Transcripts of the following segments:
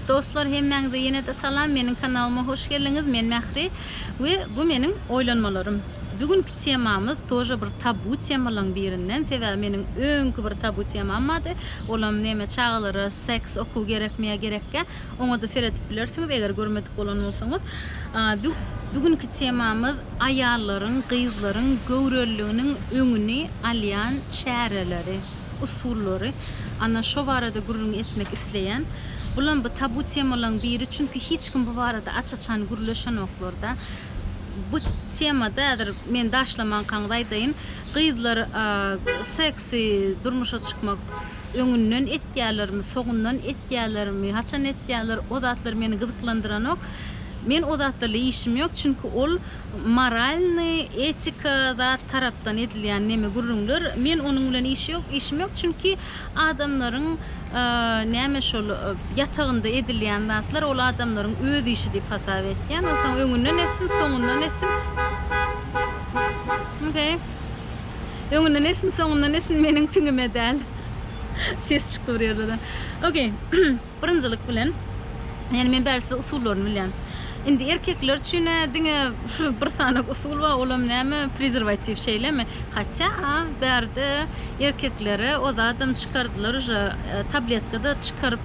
Dostlar hemmäňize ýene-de salam, meniň kanalyma hoş geldiňiz, men Mähri we bu meniň oýlanmalarym. Bu günki temamyz toja bir tabu temalaryň birinden, sebäbi meniň öňki bir tabu temam bardy, olam neme çagalara seks okuw gerekmi ýa gerekkä, Oňa-da seredip bilersiňiz, eger görmedik bolan bolsaňyz. Bu günki temamyz aýallaryň, gyzlaryň göwreliliginiň öňüni alýan çäreleri, usullary. Ana, şo barada gürrüň etmek isleýän. Bulam bu tabu temalaryň biri, çünki hiç kim bu barada aç-açan gürleşenoklar-da. Bu temada häzir men daşlamankaňyz aýdaýyn, gyzlar seks. Sy, durmuşa çykmak öňünden etýälermi, soňundan etýälermi, haçan etýäler, o zatlar meni gyzyklandyranok. Men o zatlarla işim ýok, çünki ol moralnyý, etika zat tarapdan edilýän neme gürrüňler. Men onuň bilen işi ýok, işim ýok, çünki adamlaryň näme şol ýatagynda edilýän zatlar ol adamlaryň öz işi diýip hasap etýän. Onsoň öňünden etsin, soňundan etsin. Okey. Öňünden esin soňundan esin meniň piňime däl. Ses çykdy bir ýerlerden. Ok. Birinjilik bilen ýani men bäri size usullaryny bilýän. Indi erkekler üçin diňe bir sany usul bar olam näme prezerwatiw şeýlemi? Hatça bärde erkeklere o zadam çykardylar uja tabletkada çykaryp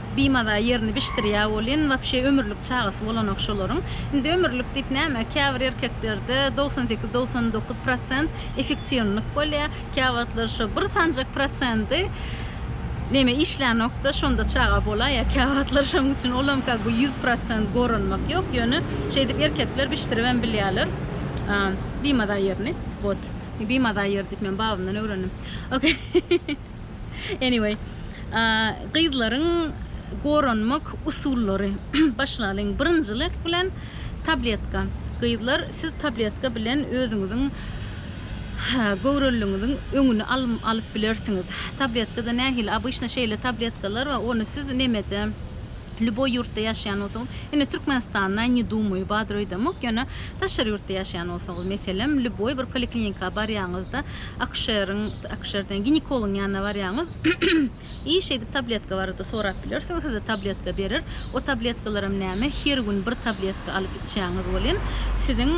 Bimaza ýerini bişdirýä welin wapşe ömürlik çagasy bolanok şolaryň. Indi ömürlik diýip näme käbir erkeklerde dogsan sekiz dogsan dokuz prosent efektiwnlik bolýa käwagtlar şo bir sanjak prosendi neme işlänokda şonda çaga bolaýýa käwagtlar şoň üçin olam kak bu ýüz prosent goranmak ýok ýöne şeýdip erkekler bişdiribem bilýäler bimaza ýerini wot bimaza ýeri diýip men babamdan öwrendim okey. Anyway, gyzlaryň goranmak usullary. Başlalyň. Birinjilik bilen tabletka. Gyzlar, siz tabletka bilen özüňiziň göwreliňiziň öňüni alyp bilersiňiz. Tabletkada nähili? Obyçny şeýle tabletkalar bar, ony siz nemede, lýuboý ýurtda ýaşaýan bolsaňyz, ine Türkmenistanda ne dumaju, badroýdamok, ýöne daşary ýurtda ýaşaýan bolsaňyz, meselem, lýuboý bir poliklinika barýaňyzda, Akuşeriň, akuşer diýen, ginekologyň ýanyna barýaňyz. I şeýdip tabletka barada sorap bilersiňiz. Size tabletka berer. O tabletkalaram näme, her gün bir tabletka alyp içýäňiz welin, siziň,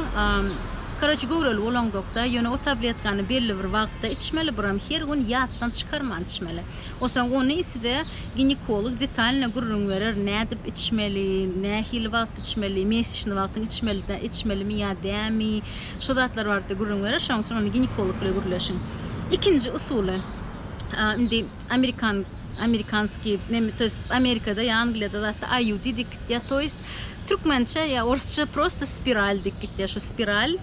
koroçe, göwreli bolaňzok-da, ýöne o tabletkany belli bir wagtda içmeli, buram her gün ýatdan çykarman içmeli. Onsoň ony size ginekolog detalno gürrüň berer, nädip içmeli, nähili wagt içmeli, mesişni wagtyň içmeli, içmelimi ýa dämi. Şu zatlar barada gürrüň berer, şonuň üçin ony ginekolog bilen gürleşiň. Ikinji usuly, indi amerikan amerikanskiý, to ýest Amerikada ýa Angliýada zatda IUD dik gitýär, to ýest türkmençe ýa orsça prosta spiral dik gitýär. Şu spiral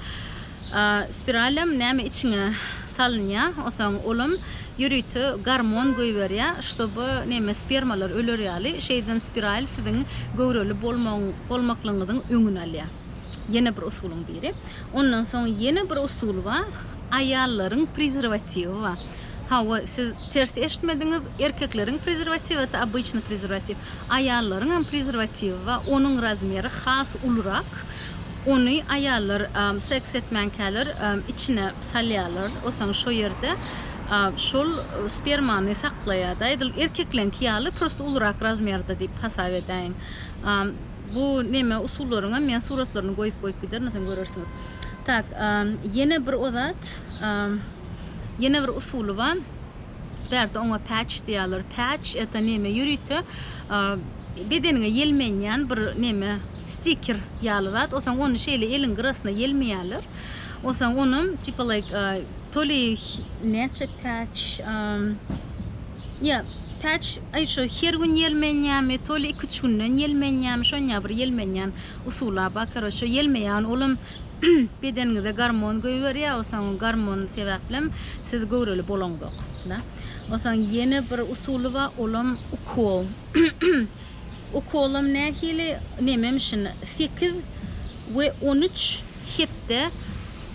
spiralem näme içiňe salynýar, onsoň olam ýörite gormon goýberýär, ştoby näme spermalar öler ýaly, şeýdibem spiral siziň göwreli bolmagyň bolmaklygyňyzyň öňüni alýar. Ýene bir usulyň biri. Ondan soň ýene bir usul bar. Aýallaryň prezerwatiwi bar. Hawa, siz ters eşitmediňiz. Erkekleriň prezerwatiwi ata obyçny prezerwatiw. Aýallaryň hem prezerwatiwi bar. Onuň razmeri has ulurak. Ony aýallar seks etmänkäler içine salýarlar. Osaň şo ýerde şol spermany saklaýar-da. Edil erkekleňki ýaly, prosta ulurak razmerde diýip hasap edäýiň. Bu neme usullaryňam men suratlaryny goýup goýup giderin onsoň görersiňiz. Tak, ýene bir o zat, ýene bir usuly bar. Bärde oňa patch diýýärler. Patch eta neme ýörite bedeniňe ýelmenýän bir neme stiker ýaly zat. Onsoň ony şeýle eliň gyrasyna ýelmeýärler. Onsoň ony tipa like toli näçe patch Ýa, päç, aý, şo her gün ýelmenýämi, toly iki-üç günden ýelmenýämi, şonýa bir ýelmenýän usuly-a bar, karoçe, ýelmeýän olam bedeniňize gormon goýberýär, osaň gormon sebäplem siz göwreli bolaňzok, da. Osaň ýene bir usuly bar, olam ukol. Ukolam nähili, nememişin, sekiz we on üç hepde,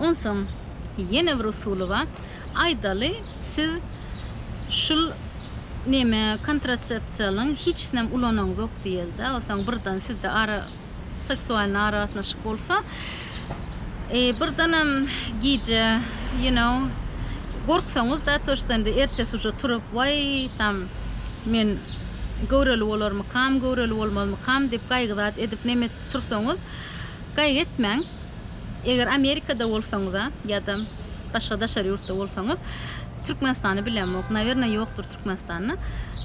Onsoň ýene bir usuly bar. Aýdaly, siz şul neme, kontrasepsiýalyň hiçnäm ulanaňzok diýeli-dä. Onsoň birden sizde ara, seksualnyý aragatnaşyk bolsa, birdenem gije, you know, gorksaňyz-da, то что indi ertesi uje turup, waý, tam, men göwreli bolarmykam, göwreli bolmazmykam diýip gaýgy zat edip neme tursaňyz, gaýgy etmäň. Eger Amerikada bolsaňyza ýada başga daşary ýurtda bolsaňyz Türkmenistany bilemok nawerno ýokdur Türkmenistanda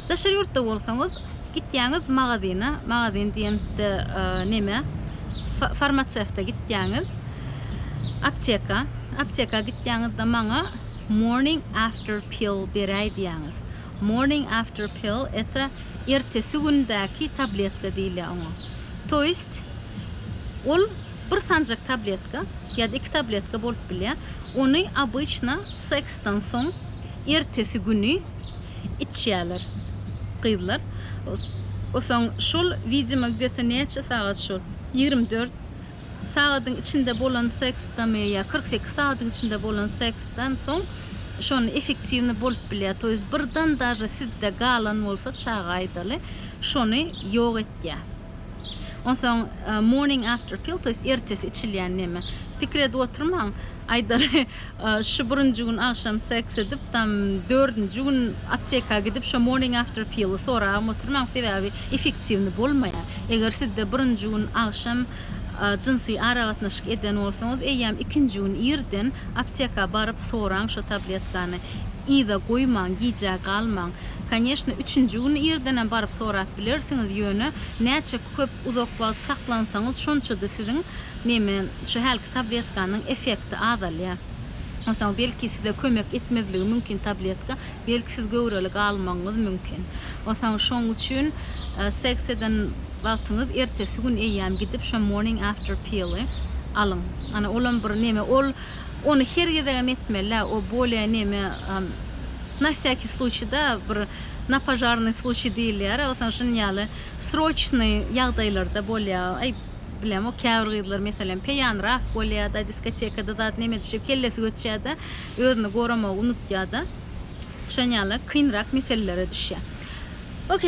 daşary ýurtda bolsaňyz gitýäňiz magazyna magazyn diýende neme farmasewta gitýäňiz apteka apteka gitýäňizde maňa morning after pill beräý diýäňiz morning after pill eta ertesi gündäki tabletka diýilýär oňa toýst ol Bir sanjak tabletka ýa-da iki tabletka bolup bilýär. Ony obyçna seksden soň ertesi güni içýärler gyzlar. Soň şol widimo gde-to näçe sagat şol ýigrimi dört sagadyň içinde bolan seksdami ýa kyrk sekiz sagadyň içinde bolan seksden soň şony efektiwny bolup bilýär. To ýest birden daže sizde galan bolsa çaga aýdaly şony ýok etýär. Onsoň morning after pill, to ýest ertesi içilýän neme. Pikir edip oturmaň, aýdaly, şu birinji gün agşam seks edip, tam dördünji gün apteka gidip şo morning after pill-i soragam oturmaň, sebäbi effektiwny bolmaýar. Eger sizde birinji gün agşam jynsy aragatnaşyk eden bolsaňyz, eýýäm ikinji gün irden apteka baryp soraň şo tabletkany. yza goýmaň, gijä galmaň. Koneşna, üçünji gün irdenem baryp sorap bilersiňiz, ýöne näçe köp, uzak wagt saklansaňyz, şonça-da siziň, neme, şu hälki tabletkanyň effekti azalýar. Onsoň, belki, size kömek etmezligi mümkin tabletka, belki, siz göwreli galmagyňyz mümkin. Onsoň, şoň üçin seks eden wagtyňyz ertesi gün eýýäm gidip, şo morning after pill-y alyň. Ana, olam bir neme, ol. Ony her gezegem etmelä o bolya neme na vsякý sluçiý da bir na požarnyý sluçiý diýilýärä osaň şun ýaly sroçnyý ýagdaýlarda bolýa aý bilem o käbir gyzlar meselem peýanrak bolýada diskotekada zat neme edip şeýdip kellesi göçýäda özüni goramagy unutýada şon ýaly kynrak meselelere düşýa ok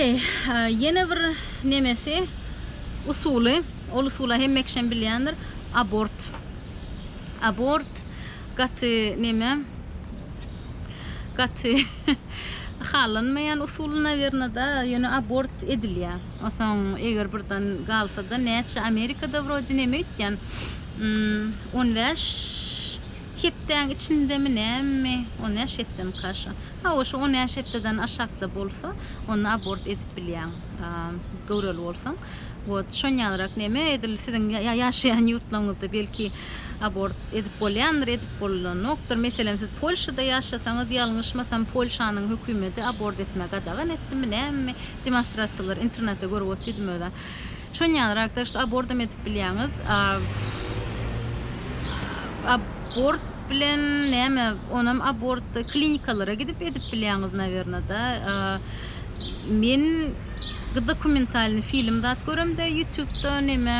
ýene bir nemesi usuly ol usula hemmekişem bilýändir abort. Abort gaty neme gaty halanmaýan usul nawerno da ýöne abort edilýä osaň eger birden galsada näçe amerikada wrodi neme öýtýän on bäş hepdäň içindemi nämi on bäş hepdemika şo hawa şo on bäş hepdeden aşakda bolsa onda abort edip bilýäň göwreli bolsaň. Wot şon ýalyrak neme edil siziň ýaşaýan ýurtlaryňyzda belki abort edip bolýandyr edip bolanokdyr meselem siz polşada ýaşasaňyz ýalňyşmasam polşanyň hökümedi abort etmegi gadagan etdimi nämemi demonstrasiýalar internetde görüp otyrdym özem şon ýalyrak tak şu abordam edip bilýäňiz abort bilen näme onam abortda klinikalara gidip edip bilýäňiz nawerno da men Gdokumentalny film zat göremde ýutubda neme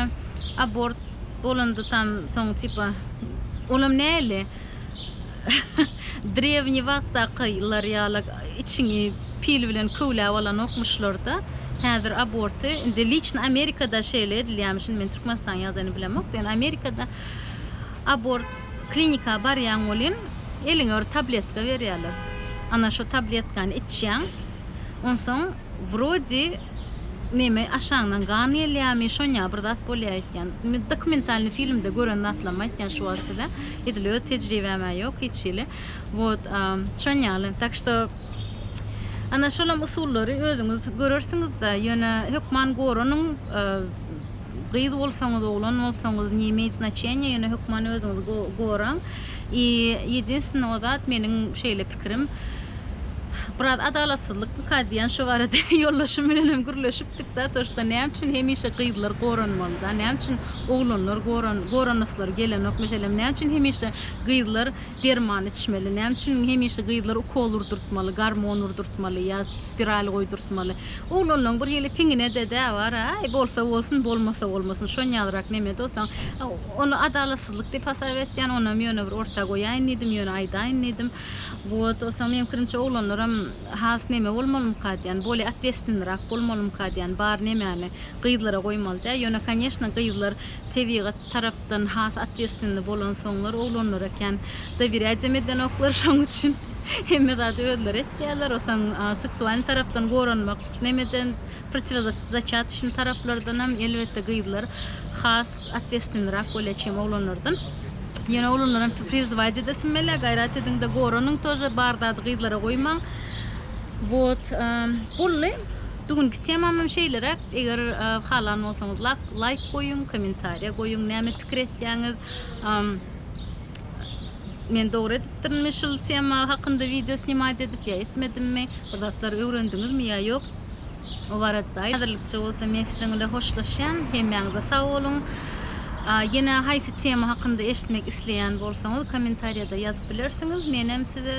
abort bolanda tam soň tipa olam näli drewniý wagtdaky lar ýala içiňi pil bilen köwläp alanokmuşlarda häzir aborty indi liçno amerikada şeýle edilýämiş indi men türkmenistanyň ýagdaýyny bilemok ýöne amerikada abort klinika barýaň welin eliňe bir tabletka berýäler ana şo tabletkany içýäň Onsoň wrodi neme aşaňdan gan gelýämi şonýa bir zat bolýa aýtýan. Men dokumentalny filmde gören zatlarymy aýtýan şu wagt size. Edil öz tejribämä ýok hiç hili. Wot şon ýaly. Tak şto ana şolam usullary özüňiz görersiňizde ýöne hökman goranyň gyz bolsaňyz oglan bolsaňyz ne imeýt znaçenýa ýöne hökman özüňiz goraň i ýedinstinne o zat meniň şeýle pikirim. Biraz adalatsyzlykmyka diýen şu barada ýoldaşym bilen hem gürleşipdik da, to şda näme üçin hemişe gyzlar goranmaly da, näme üçin oglanlar goran, goranaslary gelenok, meselem näme üçin hemişe gyzlar derman içmeli, näme üçin hemişe gyzlar ukol urdurtmaly, gormon urdurtmaly ýa spiral goýdurtmaly. Oglanlaň bir hili piňine de dä bar, aý bolsa bolsun, bolmasa bolmasyn, şonýalrak neme dostaň, ony adalatsyz. Bagtsyzlyk diýip hasap etýän, onam ýöne bir orta goýaýyn diýdim, ýöne aýdaýyn diýdim. Wot, onsoň meň pikirimçe oglanlaram has neme bolmalymyka diýän, bolýa otwestwennirak bolmalymyka diýän, bar nemäni gyzlara goýmaly däl, ýöne konýeşna gyzlar tebigat tarapdan has otwestwenni bolansoňlar oglanlara kän dowirýadem edenoklar, şoň üçin hemme zady özleri etýärler, onsoň seksualnyý tarapdan goranmak nemeden, protiwozatçatçnyý taraplardanam elbetde gyzlar has. Otwestvennyrak bolýa çem oglanlardan. Ýöne oglanlar hem prizwajy da sinmelä gaýrat ediň da goranyň tože bar zady gyzlara goýmaň. Wot bolly. Bugünki temam hem şeýleräk. Eger halan bolsaňyz lak laýk goýuň, kommentariýa goýuň näme pikir etýäňiz. Men dogry edipdirmi şul tema hakynda wideo snimat edip ýa etmedimmi? Bir zatlar öwrendiňizmi ýa ýok? Obarat baý, häzirlikçe bolsa men siziň bilen hoşlaşýan. Hemmäňize sag boluň. Ýene haýsy tema hakynda eşitmek isleýän bolsaňyz kommentariýada ýazyp bilersiňiz. Menem size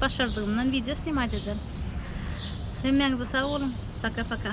başardygymdan wideo snimat ederin. Hemmäňize sag boluň. Paka-paka.